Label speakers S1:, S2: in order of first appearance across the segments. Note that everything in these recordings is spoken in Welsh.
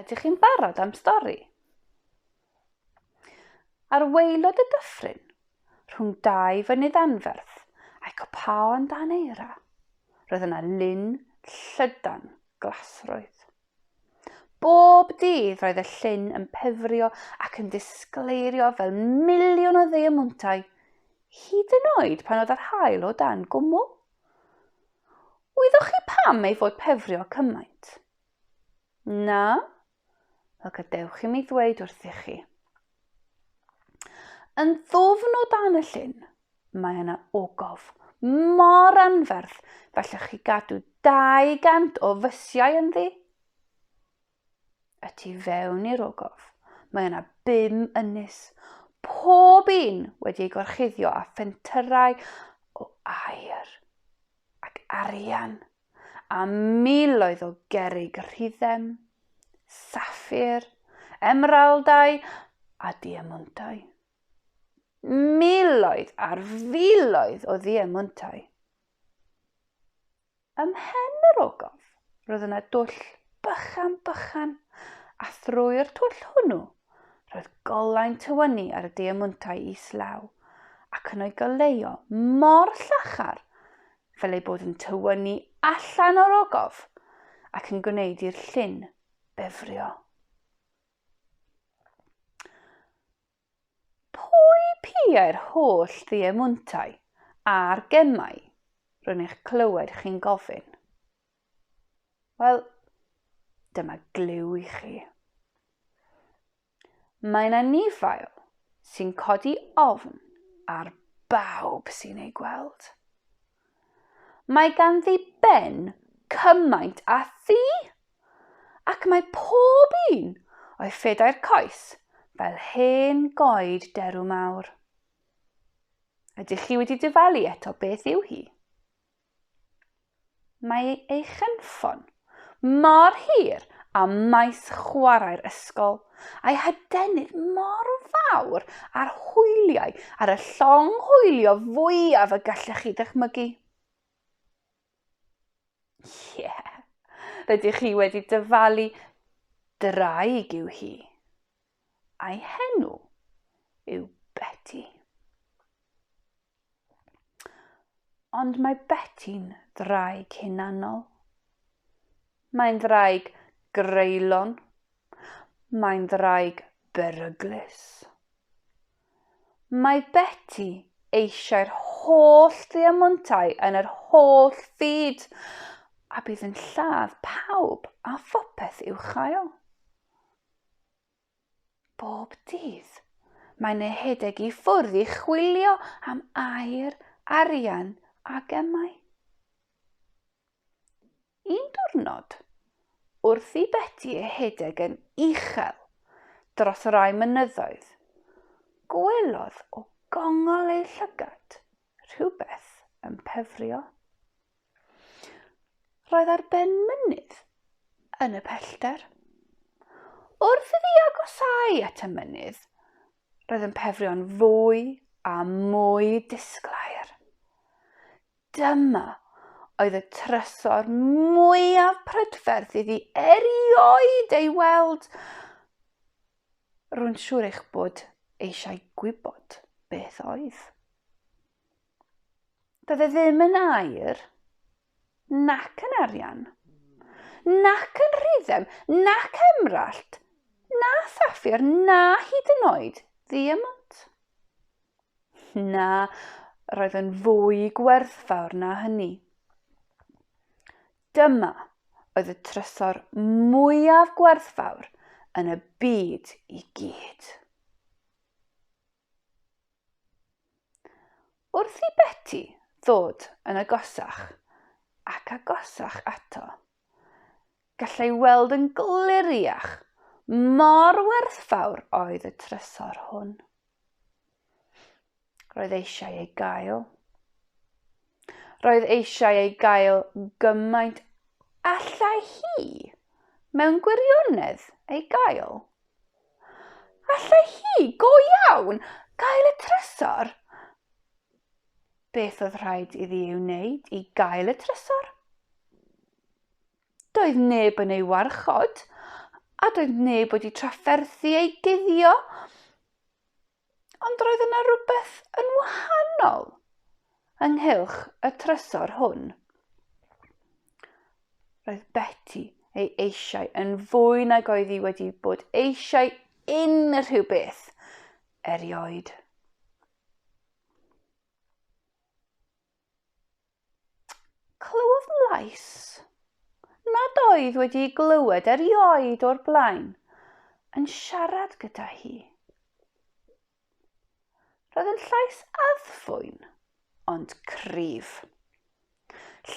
S1: Ydych chi'n barod am stori? Ar waelod y dyffryn, rhwng dau fynydd anferth a'i copaon dan eira, roedd yna lun llydan glasrwydd. Bob dydd roedd y llun yn pefrio ac yn disgleirio fel miliwn o ddiemwntau, hyd yn oed pan oedd yr hael o dan gwmwl. Wyddoch chi pam ei fod pefrio cymaint? Na? Wel gadewch i mi ddweud wrthych chi. Yn ddwfn o dan y llyn, mae yna ogof mor anferth fellwch chi gadw 200 o fysiau ynddi. y tu fewn i'r ogof, mae yna bum ynys, pob un wedi ei gorchuddio â phentyrau o aer ac arian, a miloedd o gerig rhyddem, saffir, emeraldau a diemwntau. Miloedd ar filoedd o ddiemwntau. Ym mhen yr ogof, roedd yna dwll bychan bychan, a thrwy'r twll hwnnw, roedd golau'n tywynnu ar y diemwntau islaw, ac yn o'i goleuo mor llachar fel eu bod yn tywynnu allan o'r ogof ac yn gwneud i'r llyn befrio. Pwy piau'r holl ddiemuntau a'r gemau, rwy'n eich clywed chi'n gofyn? Wel, dyma glyw i chi. Mae yna nifail sy'n codi ofn ar bawb sy'n ei gweld. Mae ganddi ben cymaint a thi, ac mae pob un o'i phedair coes fel hen goed derw mawr. Ydych chi wedi dyfalu eto beth yw hi? Mae ei chynffon mor hir â maes chwarae'r ysgol, a'i hadenydd mor fawr â'r hwyliau ar y llong hwylio fwyaf y gallech chi ddychmygu. Ie, yeah. rydych chi wedi dyfalu draig yw hi. A'i henw yw Betty. Ond mae Beti'n ddraig hunanol. Mae'n ddraig greulon. Mae'n ddraig beryglus. Mae Beti eisiau'r holl ddiamontau yn yr holl fyd a bydd yn lladd pawb a phopeth i'w chael. Bob dydd, mae'n ehedeg i ffwrdd i chwilio am air, arian a gemau. Un diwrnod, wrth i Beti ehedeg yn uchel dros rai mynyddoedd, gwelodd o gongol ei llygad rhywbeth yn pefrio. Roedd ar ben mynydd yn y pellter. Wrth iddi agosau at y mynydd, roedd yn pefrio'n fwy a mwy disglair. Dyma oedd y trysor mwyaf prydferth iddi erioed ei weld. Rwy'n siŵr eich bod eisiau gwybod beth oedd. Doedd e ddim yn air, nac yn arian, nac yn rhyddem, nac emrallt, na saffir, na hyd yn oed ddiemont. Na, roedd yn fwy gwerthfawr na hynny. Dyma oedd y trysor mwyaf gwerthfawr yn y byd i gyd. Wrth i Beti ddod yn agosach ac agosach ato, gallai weld yn gliriach mor werthfawr oedd y trysor hwn. Roedd eisiau ei gael. Roedd eisiau ei gael gymaint allai hi mewn gwirionedd ei gael. Allai hi, go iawn, gael y trysor? Beth oedd rhaid iddi ei wneud i gael y trysor? Doedd neb yn ei warchod, a doedd neb wedi trafferthu ei guddio. Ond roedd yna rywbeth yn wahanol ynghylch y trysor hwn. Roedd Betty ei eisiau yn fwy nag oedd hi wedi bod eisiau unrhyw beth erioed. Clywodd lais nad oedd wedi ei glywed erioed o'r blaen yn siarad gyda hi. Roedd yn llais addfwyn, ond cryf.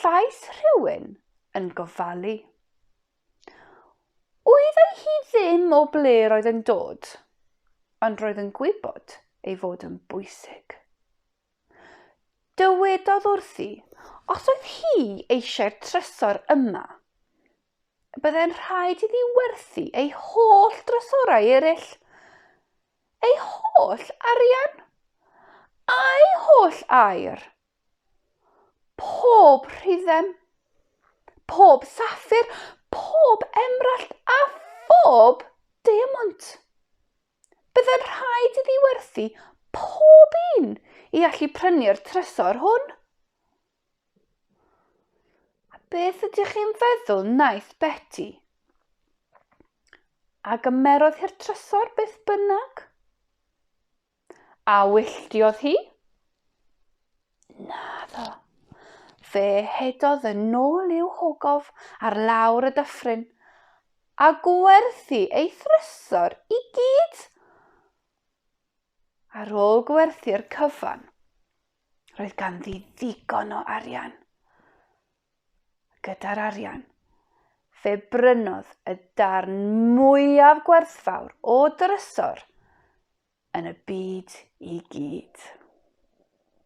S1: Llais rhywun yn gofalu. Wyddai hi ddim o ble roedd yn dod, ond roedd yn gwybod ei fod yn bwysig. Dywedodd wrthi, os oedd hi eisiau'r trysor yma, y byddai'n rhaid iddi werthu ei holl drysorau eraill. Ei holl arian. A'i holl air. Pob rhyddem. Pob saffir. Pob emrallt a phob diamwnt. Byddai'n rhaid iddi werthu pob un i allu prynu'r trysor hwn. A beth ydych chi'n feddwl wnaeth Betty? A gymerodd hi'r trysor beth bynnag? A wylltiodd hi? Naddo. Fe hedodd yn nôl i'w hogof ar lawr y dyffryn, a gwerthu ei thrysor i gyd! Ar ôl gwerthu'r cyfan, roedd ganddi ddigon o arian. Gyda'r arian, fe brynodd y darn mwyaf gwerthfawr o drysor yn y byd i gyd.